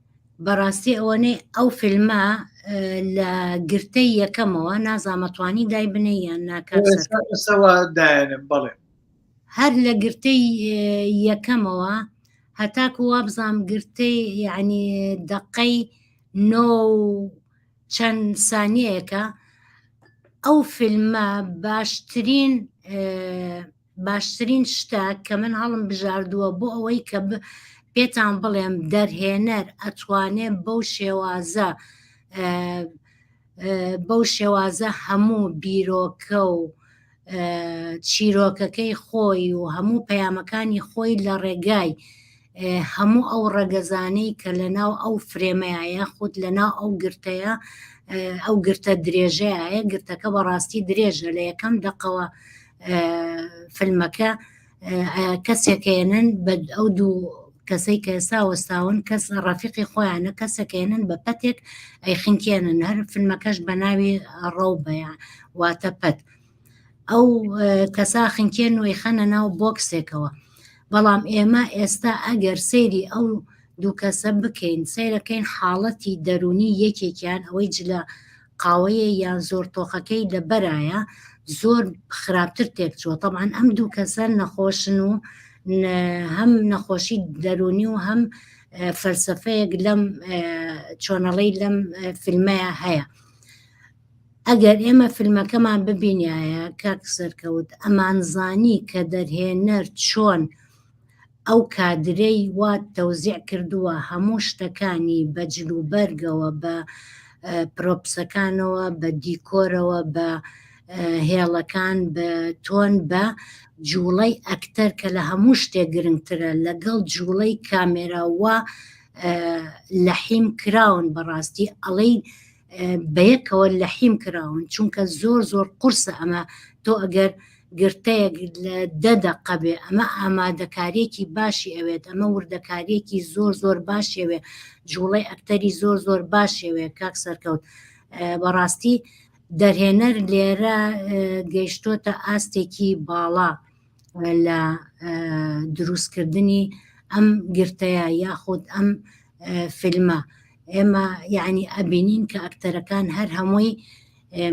بەڕاستی ئەوەنەی ئەو فیلمە لە گرتەی یەکەمەوە نازامەتوانی دای بنێ یان ناکەسەوە دایانم بڵێ هەر لە گرتەی یەکەمەوە هەتاکو وابزانام گرتەی یعنی دەقەی نۆ چەند سانیەکە ئەو فیلمە باشترین باشترین شتە کە من هەڵم بژاردووە بۆ ئەوەی کە پێتان بڵێم دەرهێنەر ئەتوانێ بەو شێوازە بەو شێوازە هەموو بیرۆکە و چیرۆکەکەی خۆی و هەموو پەیامەکانی خۆی لە ڕێگای هەموو ئەو ڕەگەزانەی کە لە ناو ئەو فرێمەیە یاخود لە ناو ئەو گرتەیە ئەو گرتە درێژەیە گرتەکە بەڕاستی درێژە لە یەکەم دەقەوە فیلمەکە کەسێکێنن بە ئەو دوو کەسەی کە ئێستا وەستاون کەس ڕافقی خۆیانە کەسەکەێنن بە پەتێک ئەی خنکێنن هەر فیلمەکەش بە ناوی ڕەو بەیان واتە پەت. ئەو کەسا خنکێ نوێی خەنە ناو بۆکسێکەوە بەڵام ئێمە ئێستا ئەگەر سەیری ئەو دوو کەسە بکەین سەیرەکەین حاڵەتی دەرونی یەکێکیان ئەوەی جلە قاوەیە یان زۆر تۆخەکەی لە بەرایە زۆر خراپتر تێکچوە طبعاان ئەم دوو کەسە نەخۆشن و هەم نەخۆشی دەرونی و هەم فەلسفەیەک لەم چۆنەڵی لەم فیلمەیە هەیە ئەگەر ئێمە فیلمەکەمان ببینایە کاک سەرکەوت ئەمانزانی کە دەرهێنەر چۆن ئەو کادرەی وا تەوزیع کردووە هەموو شتەکانی بە جل و بەرگەوە بە پرۆپسەکانەوە بە دیکۆرەوە بە هێڵەکان بە تۆن بە جوڵەی ئەکتەر کە لە هەموو شتێ گرنگترە لەگەڵ جوڵەی کامێراوە لە حیم کراون بەڕاستی ئەڵەی بەیەکەوە لە حیم کراون چونکە زۆر زۆر قورسە ئەمە تۆ ئەگەر گرتەیەک لە دە دەقە بێ ئەمە ئامادەکاریەکی باشی ئەوێت ئەمە وردەکاریەکی زۆر زۆر باشێوێ جوڵەی ئەکتەری زۆر زۆر باشێوێ کاک سەرکەوت بەڕاستی دەرهێنەر لێرە گەیشتۆتە ئاستێکی باڵا لە دروستکردنی ئەم گرتەیە یاخود ئەم فیلمە ئێمە یعنی ئەبینین کە ئەکتەرەکان هەر هەمووی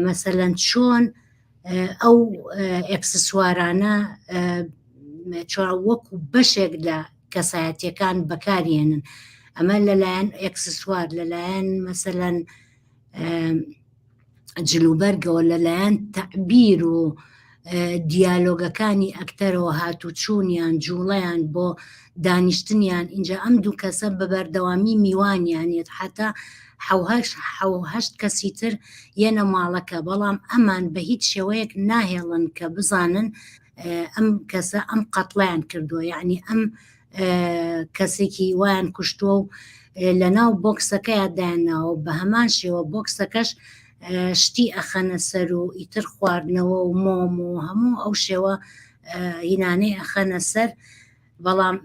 مەسەەن چۆن ئەو ئەکسسوارانە چۆن وەکو بەشێک لە کەسایەتەکان بەکارێنن ئەمە لەلایەن ئەکسسوار لەلایەن مەسەەن جلوبەرگەوە لەلایەن تەعبیر و دیالۆگەکانی ئەکتەرەوە هاتوچوونیان جوڵەیان بۆ دانیشتنیان اینجا ئەم دوو کەسە بە بەردەوامی میوانیانێت حتا حوهشت کەسی تر یەنە ماڵەکە بەڵام ئەمان بە هیچ شێوەیەک ناهێڵن کە بزانن ئەم کەسە ئەم قەتڵیان کردووە یعنی ئەم کەسێکی وایان کوشتووە و لە ناو بۆکسەکەیان دایانناوە بە هەمان شێوە بۆکسەکەش شتی ئەخەنە سەر و ئیتر خواردنەوە و مۆم و هەموو ئەو شێوە هینانەی ئەخەنە سەر بەڵام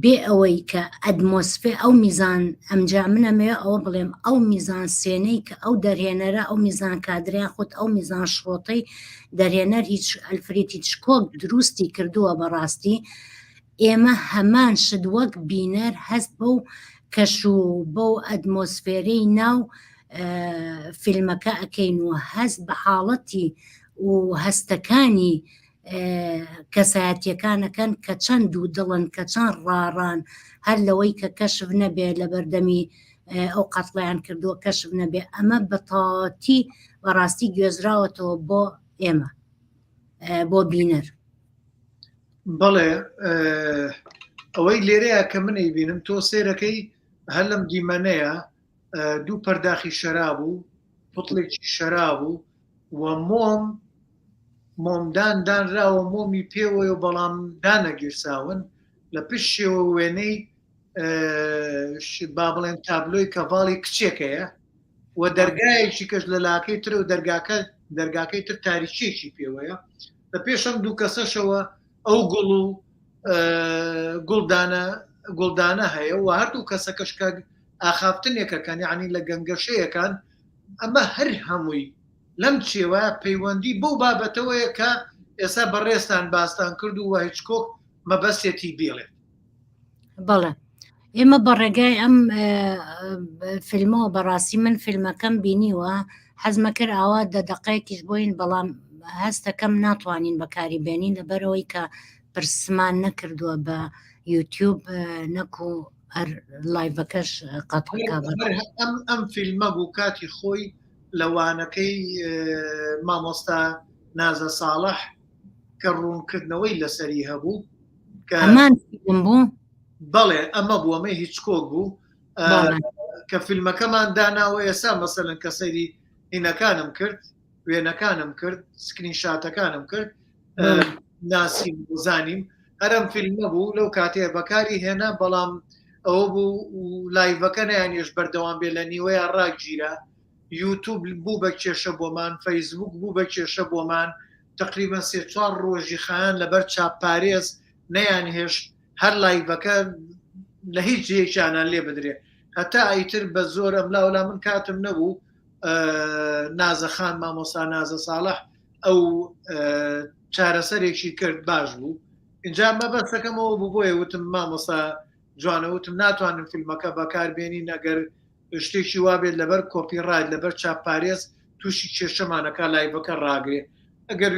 بێ ئەوەی کە ئەدمۆسفێ ئەو میزان ئەمجا منەمەوێ ئەوە بڵێم ئەو میزان سوێنەی کە ئەو دەرهێنەرە ئەو میزان کادریان خۆت ئەو میزان شڕۆتەی دەرهێنەر هیچ ئەلفرید هیچ کۆک دروستی کردووە بەڕاستی ئێمە هەمان شت وەک بینەر هەست بەو کەش و بەو ئەدمۆسفێرەی ناو فیلمەکە ئەەکەین و هەست بە حاڵەتی و هەستەکانی کەسایەتیەکانەکەن کە چەند دوو دڵن کە چەند ڕاڕان هەر لەوەی کە کەشف نەبێت لە بەردەمی ئەو قەتڵەیان کردووە کەشف نەبێ ئەمە بە تەواوەتی بەڕاستی گوێزراوەتەوە بۆ ئێمە بۆ بینەر بەڵێ ئەوەی لێرەیە کە منی بینم تۆ سێرەکەی هەر لەم دیمەنەیە دوو پەرداخی شەراب و پتڵێکی شەراب و و مۆم مۆمدان دانراوە مۆمی پێوەیە بەڵام دانەگیرساون لە پشتێەوە وێنەی با بڵێن تابلۆی کەڤاڵی کچێکەیە و دەرگایەکی کەش لە لاکەی تر و دەرگاکە دەرگاکەی تر تاریچێکی پێوەیە لە پێشم دوو کەسەشەوە ئەو گوڵ و گوڵدانە گوڵدانە هەیە و هەردوو کەسەکەشکە ئاخافتنێکەکان یعنی لە گەنگەشەیەکان ئەمە هەر هەمووی لەم چێوە پەیوەندی بەو بابەتەوەیە کە ئێستا بەڕێستان باستان کرد و هیچکۆک مەبەستێتی بێڵێت بەڵێ ئێمە بە ڕێگای ئەم فیلمەوە بەڕاستی من فیلمەکەم بینیوە حەزمە کرد ئاوا دە دەقەیەکیش بۆین بەڵام هەستەکەم ناتوانین بەکاری بێنین لەبەرەوەی کە پرسمان نەکردووە بە یوتیوب نەکو هەر لایڤەکەش قەت ئەم فیلمە بوو کاتی خۆی لەوانەکەی مامۆستا نازە ساڵح کە ڕوونکردنەوەی لەسەری هەبوو ئەمان فیلم بوو بەڵێ ئەمە بوو ئەمە هیچ کۆک بوو بەڵێ. کە فیلمەکەمان داناوە ئێستا مەسەلەن کە سەیری هینەکانم کرد وێنەکانم کرد سکرین شاتەکانم کرد بەڵێ. ئە، ناسیم و زانیم هەرم فیلمە بوو لەو کاتێ بەکاری هێنا بەڵام ئەوە بوو و لایڤەکە نیانێش بەردەوام بێ لە نیوەیە ڕاگیرا یوتوب بوو بە کێشە بۆمان فەیسبوک بوو بە کێشە بۆمان تەقریبەن سێ چوار ڕۆژی خایان لەبەر چاپ پارێز نەیان هێشت هەر لایڤەکە لە هیچ جێکیانان لێ بدرێت هەتا ئیتر بە زۆر ئەم لاولا من کاتم نەبوو نازەخان مامۆسا نازە ساڵح ئەو چارەسەرێکی کرد باش بوو اینجا مەبەستەکەمەوە بوو بۆیە وتم مامۆسا جوانەوتم ناتوانم فیلمەکە بەکاربێنی نەگەر شتێکی وابێت لەبەر کۆپی ڕایت لەبەر چاپ پارێز تووشی کێشەمانەکە لایڤەکە ڕاگرێ ئەگەر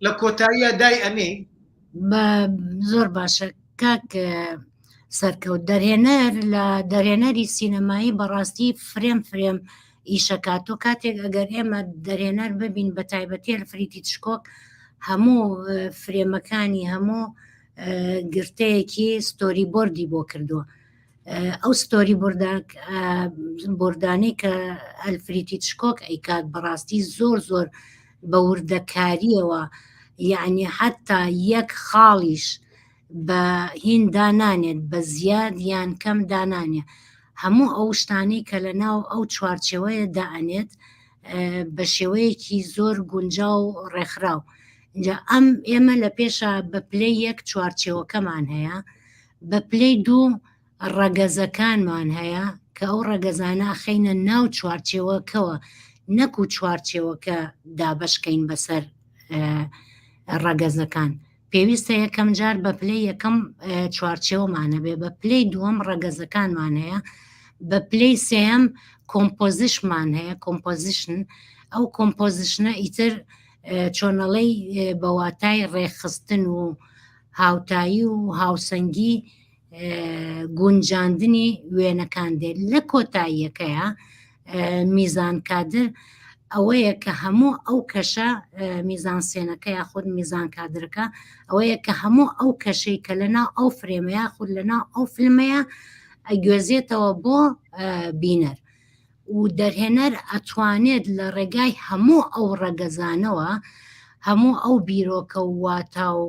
لە کۆتاییە دای ئەنێ زۆر باشە کاک سەرکەوت دەرهێنەر لە دەرهێنەری سینەمایی بەڕاستی فرێم فرێم ئیشەکات تۆ کاتێک ئەگەر ئێمە دەرهێنەر ببین بە تایبەتێر فریتی تشکۆک هەموو فرێمەکانی هەموو گرتەیەکی ستۆری بردی بۆ کردووە ئەو ستۆری برداک بردانەی کە ئەلفریتی شکۆک ئەیکات بەڕاستی زۆر زۆر بە وردەکاریەوە یعنی حتا یەک خاڵیش بە هین دانانێت بە زیاد یان کەم دانانێ هەموو ئەو شتانی کە لە ناو ئەو چوارچەوەیە دائەنێت بە شێوەیەکی زۆر گونجا و ڕێکخراو ئەم ئێمە لە پێشە بە پلەی یەک چوارچەوەکەمان هەیە بە پلەی دوو ڕەگەزەکانمان هەیە کە ئەو ڕەگەزانە ئەخەینە ناو چوارچێوەکەوە نەکو چوارچێوەکە دابەشکەین بەسەر ڕەگەزەکان پێویستە یەکەم جار بە پلەی یەکەم چوارچێوەمانە بێ بە پلەی دووەم ڕەگەزەکانمان هەیە بە پلەی سێم کۆمپۆزیشمان هەیە کۆمپۆزیشن ئەو کۆمپۆزیشنە ئیتر چۆنەڵەی بەواتای ڕێخستن و هاوتایی و هاوسەنگی گونجاندنی وێنەکان دێت لە کۆتاییەکەیە میزان کادر ئەوەیە کە هەموو ئەو کەشە میزان سێنەکە یا خود میزان کادرەکە ئەوەیە کە هەموو ئەو کەشەی کە لەنا ئەو فرێمەیە خود لەنا ئەو فیلمەیە ئەگوێزێتەوە بۆ بینەر و دەرهێنەر ئەتوانێت لە ڕێگای هەموو ئەو ڕەگەزانەوە هەموو ئەو بیرۆکە و واتا و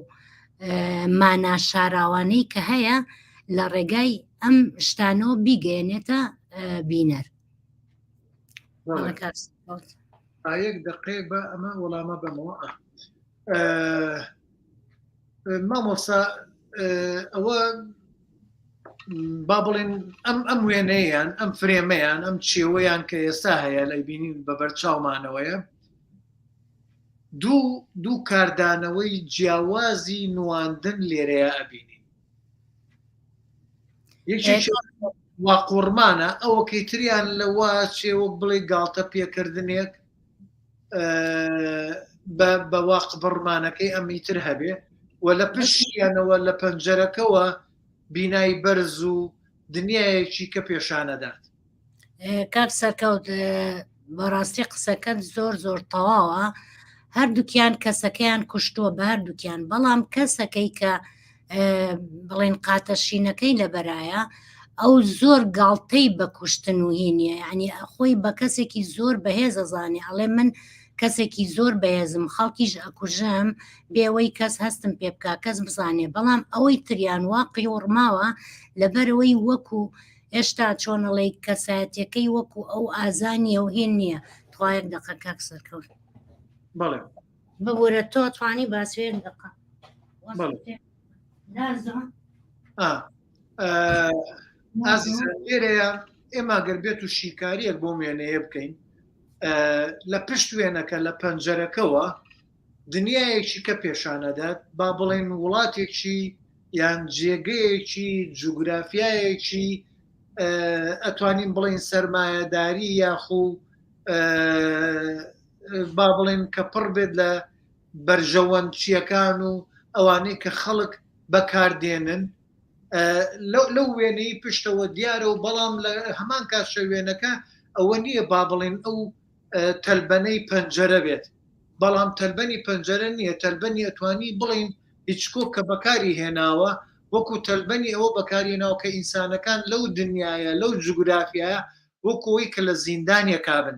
مانا شاراوانەی کە هەیە لە ڕێگای ئەم شتانەوە بیگەێنێتە بینەر ئایەک دقەیەک بە ئەمە وەڵامە بەمەوە مامۆسا ئەوە با بڵێن ئەم ئەم وێنەیان ئەم فرێمەیان ئەم چێوەیان کە ئێستا هەیە لە بینین بە بەرچاومانەوەیە دوو دوو کاردانەوەی جیاوازی نواندن لێرەیە ئەبینین یەکی واقۆڕمانە ئەوەکەی تریان لەوە چێ وەک بڵێ گاڵتە پێکردنێک بە واق بڕمانەکەی ئەمی تر هەبێ و لە پشتیانەوە لە پەنجەرەکەەوە بینای بەرز و دنیایەکی کە پێشانەدات کاک سەرکەوت بەڕاستی قسەکەت زۆر زۆر تەواوە هەردووکیان کەسەکەیان کوشتووە بە هەردووکیان بەڵام کەسەکەی کە بڵین قاتە شینەکەی لەبەرایە ئەو زۆر گاڵتەی بە کوشتن و هینیە ینی خۆی بە کەسێکی زۆر بەهێزە زانێ ئەڵێ من کەسێکی زۆر بەهێزم خەڵکیش ئەکوژم بێەوەی کەس هەستم پێ بک کەس بزانێ بەڵام ئەوەی تریان وا قیوڕماوە لەبەرەوەی وەکو هێشتا چۆنەڵی کەسایەتەکەی وەکو ئەو ئازانیە و هێن نییە توایەک دەقەکەک سەرکەوت بەڵێ ببورە تۆ توانی باسوێن دقە لێرەیە ئێمە گەر بێت و شیکاریەک بۆ وێنەیە بکەین لە پشت وێنەکە لە پەنجەرەکەەوە دنیایەکی کە پێشانەدات با بڵێن وڵاتێکی یان جێگەیەکی جوگرافایەکی ئەتوانین بڵین سرمایهداری یاخو با بڵێن کە پڕ بێت لە بەرژەوەندچیەکان و ئەوانەی کە خەڵک بەکاردێنن لەو وێنەی پشتەوە دیارە و بەڵام لە هەمان کات شەوێنەکە ئەوە نییە با بڵێن ئەو تەلبەنەی پەنجەرە بێت بەڵام تەلبەنی پەنجەرە نییە تەلبەنی ئەتوانی بڵین هیچکۆ کە بەکاری هێناوە وەکو تەلبەنی ئەوە بەکاری ناو کە ئینسانەکان لەو دنیاە لەو جوگرافیایە وەکۆی کە لە زیندانیەکە بن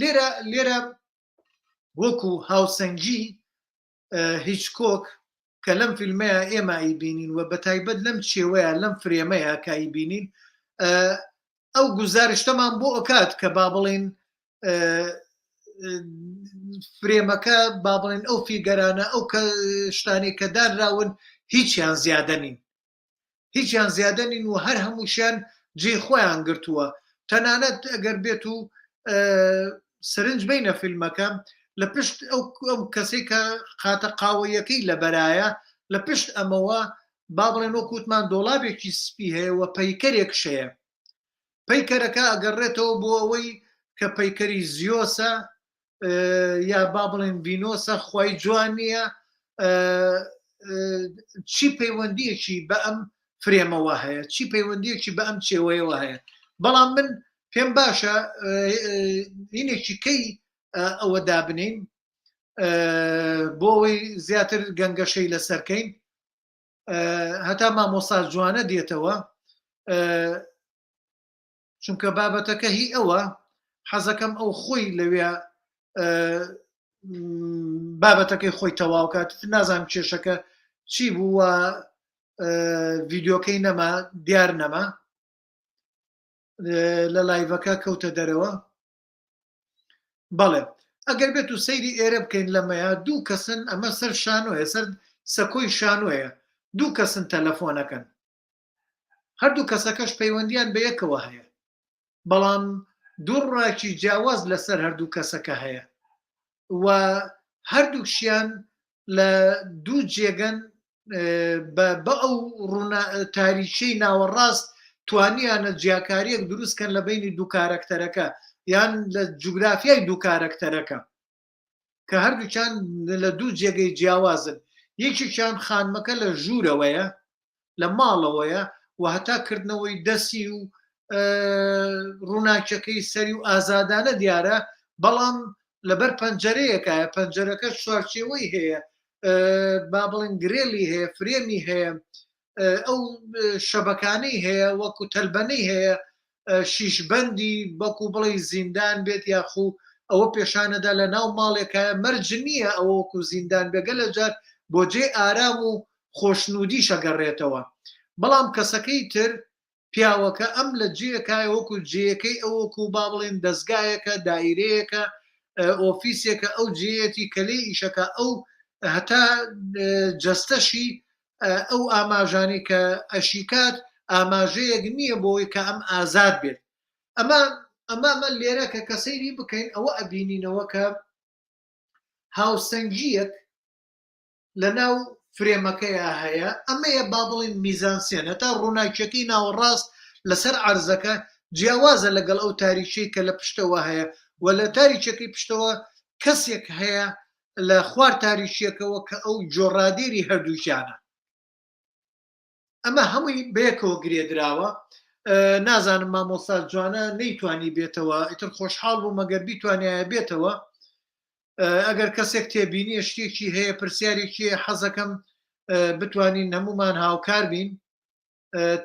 لێرە لێرە وەکو هاوسەنگی هیچ کۆک کە لەم فیلمەیە ئێمە ئی بینین و بە تایبەت لەم چێوەیە لەم فرێمەیە کایی بینین ئەو گوزارشتەمان بۆ ئۆکات کە با بڵین فرێمەکە با بڵێن ئەو فیگەرانە ئەو کە شتانی کە دانراون هیچیان زیادە نین هیچیان زیادە نین و هەر هەمووشیان جێ خۆیان گرتووە تەنانەت ئەگەر بێت و سرنج بینە فیلمەکە لە پشت ئەو ئەم کەسێک کە خاتە قاوەیەکەی لە بەرایە لە پشت ئەمەوە با بڵێن وە کووتمان دۆڵابێکی سپی هەیە و پەیکەرێک شەیە پەیکەرەکە ئەگەڕێتەوە بۆ ئەوەی کە پەیکەری زیۆسە یا با بڵێن ڤینۆسە خی جوان نییە چی پەیوەندیەکی بە ئەم فرێمەوە هەیە چی پەیوەندیەکی بە ئەم چێوەیەوە هەیە بەڵام من پێم باشە هینێکی کەی ئەوە دابنین بۆ ئەوەی زیاتر گەنگەشەی لەسەرکەین هەتا مامۆسا جوانە دێتەوە چونکە بابەتەکە هی ئەوە حەزەکەم ئەو خۆی لەوێ بابەتەکەی خۆی تەواوکات نازان کێشەکە چی بووە ڤیددیوکەی نەما دیار نەما لە لایڤەکە کەوتە دەرەوە بەڵێ ئەگەر بێت و سەیری ئێرە بکەین لەمەیە دوو کەسن ئەمە سەر شانۆیە سەر سەکۆی شانۆیە دوو کەسن تەلەفۆنەکەن هەردوو کەسەکەش پەیوەندیان بە یەکەوە هەیە بەڵام دوو ڕاکی جیاواز لەسەر هەردوو کەسەکە هەیە و هەردووکشیان لە دوو جێگەن بە ئەو تاریکی ناوەڕاست توانیانە جیاکاریەک دروستکەن لە بینی دوو کارەکتەرەکە یان لە جوگرافیای دوو کارەکتەرەکە کە هەردووچان لە دوو جێگەی جیاوازن یەکێکیان خانمەکە لە ژوورەوەیە لە ماڵەوەیە و هەتا کردنەوەی دەسی و ڕووناکیەکەی سەری و ئازادانە دیارە بەڵام لەبەر پەنجەرەیەکایە پەنجەرەکە چوارچێوەی هەیە با بڵێن گرێلی هەیە فرێمی هەیە ئەو شەبەکانەی هەیە وەکو تەلبەنەی هەیە شیشبندی بەکو بڵێ زیندان بێت یاخو ئەوە پێشانەدا لە ناو ماڵێکە مەرج نییە ئەوەکو زیندان بێگە لە جار بۆ جێ ئارام و خۆشنودی شەگەڕێتەوە بەڵام کەسەکەی تر پیاوەکە ئەم لە جێکای وەکو جێەکەی ئەو وەکو با بڵێن دەستگایەکە دایرەیەەکە ئۆفیسێکە ئەو جێەتی کە لێ ئیشەکە ئەو هەتا جەستەشی ئەو ئاماژانی کە ئەشیکات ئاماژەیەک نییە بۆی کە ئەم ئازاد بێت ئەمە ئەمامە لێرە کە کەسەیری بکەین ئەوە ئەبینینەوە کە هاوسەنگیەک لەناو فرێمەکەیا هەیە، ئەمەیە با بڵێین میزانسێن، هەتا ڕووناکییەکەی ناوەڕاست لەسەر عەرزەکە جیاوازە لەگەڵ ئەو تاریکیەی کە لە پشتەوە هەیە و لە تاریکیەکەی پشتەوە کەسێک هەیە لە خوار تاریکیەکەوە کە ئەو جۆ ڕادێری هەردووکیانە. ئەمە هەمووی بەیەکەوە گرێدراوە نازانم مامۆستا جوانە نەیتوانی بێتەوە ئیتر خۆشحاڵ بوو مەگەر بیتوانایە بێتەوە ئەگەر کەسێک تێبینی شتێکی هەیە پرسیارێکی حەزەکەم بتوانین هەمومان هاوکار بین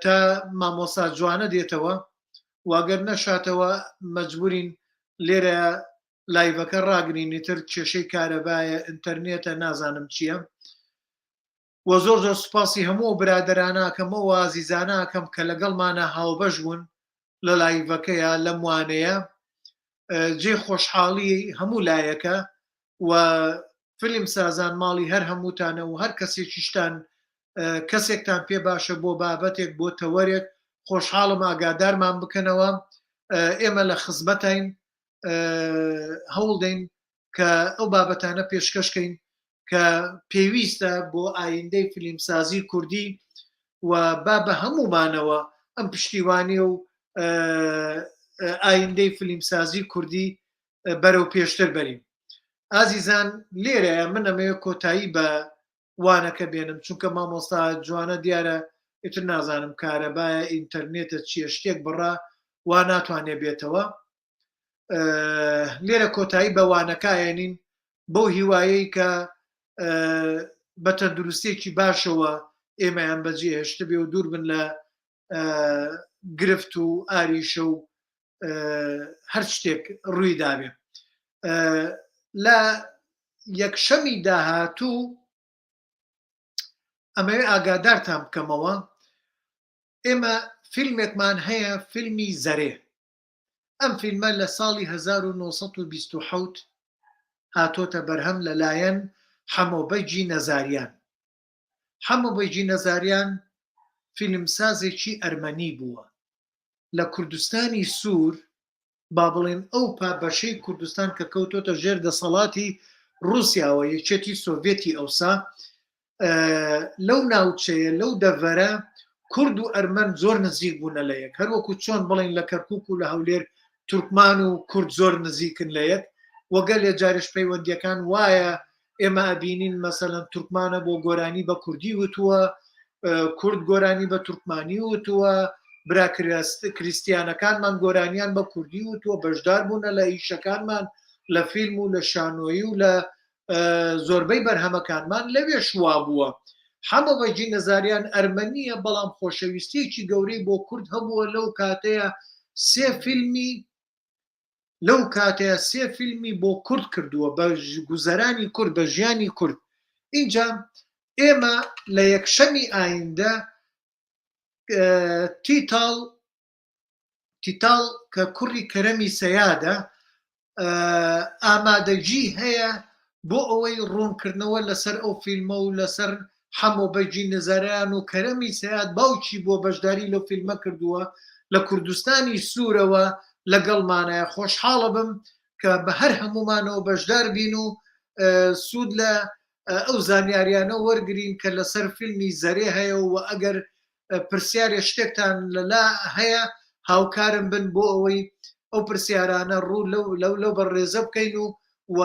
تا مامۆسا جوانە دێتەوە واگەر نەشاتەوە مەجبورین لێرە لایڤەکە ڕاگرینی تر کێشەی کارەبایە ئینتەرنێتە نازانم چییە وە زۆر زۆر سوپاسی هەموو ئەو برادەرانەکەم ئەو ئازیزانەکەم کە لەگەڵمانە هاوبەش بوون لە لایڤەکەیە لەم وانەیە جێ خۆشحاڵی هەموو لایەکە و فلم سازان ماڵی هەر هەمووتانە و هەر کەسێکیشتان کەسێکتان پێ باشە بۆ بابەتێک بۆ تەوەرێک خۆشحاڵم ئاگادارمان بکەنەوە ئێمە لە خزمەتین هەوڵدەین کە ئەو بابەتانە پێشکەشکەین کە پێویستە بۆ ئایندەی فیلمسازی کوردی و با بە هەمومانەوە ئەم پشتیوانی و ئایندەی فیلمسازی کوردی بەرەو پێشتر بەرین ئازیزان لێرە من ئەمەیە کۆتایی بە وانەکە بێنم چونکە مامۆستا جوانە دیارە ئیتر نازانم کارەبایە ئینتەرنێتە چیە شتێک بڕە وا ناتوانێ بێتەوە لێرە کۆتایی بە وانەکایەنین بەو هیوایەی کە بە تەندروستێکی باشەوە ئێمەیان بەجێ هێشت بێ و دوور بن لە گرفت و ئاریشە و هەر شتێک ڕووی دابێ لە یەکشەمی داهاتوو ئەمەوێ ئاگادارتان بکەمەوە ئێمە فیلمێکمان هەیە فیلمی زەرێ ئەم فیلمە لە ساڵی هەزار و نۆ سەد و بیست و حەوت هاتۆتە بەرهەم لە لایەن حەمۆ بەگی نەزاریان حەمۆ بەگی نەزاریان فیلمسازێکی ئەرمەنی بووە لە کوردستانی سوور با بڵێن ئەو پا بەشەی کوردستان کە کەوتۆتە ژێر دەسەڵاتی رووسیاوە یەکێتی سۆڤێتی ئەوسا لەو ناوچەیە لەو دەڤەرە کورد و ئەرمەن زۆر نزیک بوونە لە یەک هەروەکو چۆن بڵین لە کەرکک و لە هەولێر تورکمان و کورد زۆر نزیکن لە یەک وەگەل لە جارش پەیوەندیەکان وایە ئێمە ئەبینین مەسەەن تورکمانە بۆ گۆرانی بە کوردی وتووە کورد گۆرانی بە تورکمانی وتووە برا کریسیانەکانمان گۆرانیان بە کوردی وتووە بەشدار بوونە لە ئیشەکانمان لە فیلم و لە شانۆیی و لە زۆربەی بەرهەمەکانمان لەوێش وابووە حەمە بەجی نەزاریان ئەرمەنیە بەڵام خۆشەویستێکی گەورەی بۆ کورد هەبووە لەو کاتەیە سێ فیلمی لەو کاتەیە سێ فیلمی بۆ کورد کردووە بە گوزەرانی کورد بە ژیانی کورد اینجا ئێمە لە یەکشەمی ئایندە تیتاڵ تیتاڵ کە کوڕی کەرەمی سەیادە ئامادەجی هەیە بۆ ئەوەی ڕوونکردنەوە لەسەر ئەو فیلمە و لەسەر حەمۆ بەجی نەزارەیان و کەرەمی سەیاد باوکی بۆ بەشداری لەو فیلمە کردووە لە کوردستانی سوورەوە لەگەڵمانایە خۆشحاڵە بم کە بە هەر هەمومانەوە بەشدار بین و سوود لە ئەو زانیاریانە وەرگین کە لەسەر فیلمی زەرێ هەیە و ئەگەر پرسیارێ شتێکتان لەلا هەیە هاوکارم بن بۆ ئەوەی ئەو پرسیارانە ڕوو لەو لەو بە ڕێزە بکەین و و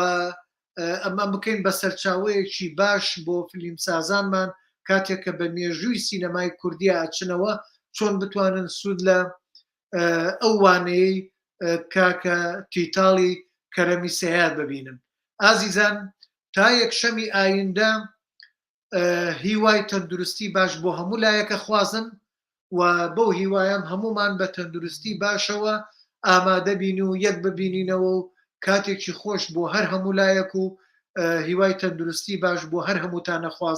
ئەمە بکەین بە سەرچاوەیەکی باش بۆ فلیم سازانمان کاتێک کە بە مێژووی سینەمای کوردیا ئەچنەوە چۆن بتوانن سوود لە ئەو وانەیە کاکە تیتاڵی کەرەمی سیاد ببینم ئازیزان تا یەکشەمی ئایندە هیوای تەندروستی باش بۆ هەموو لایەکە خوازم و بەو هیوایم هەمومان بە تەندروستی باشەوە ئامادەبین و یەک ببینینەوە و کاتێکی خۆش بۆ هەر هەموو لایەک و هیوای تەندروستی باش بۆ هەر هەمووتانە خوازم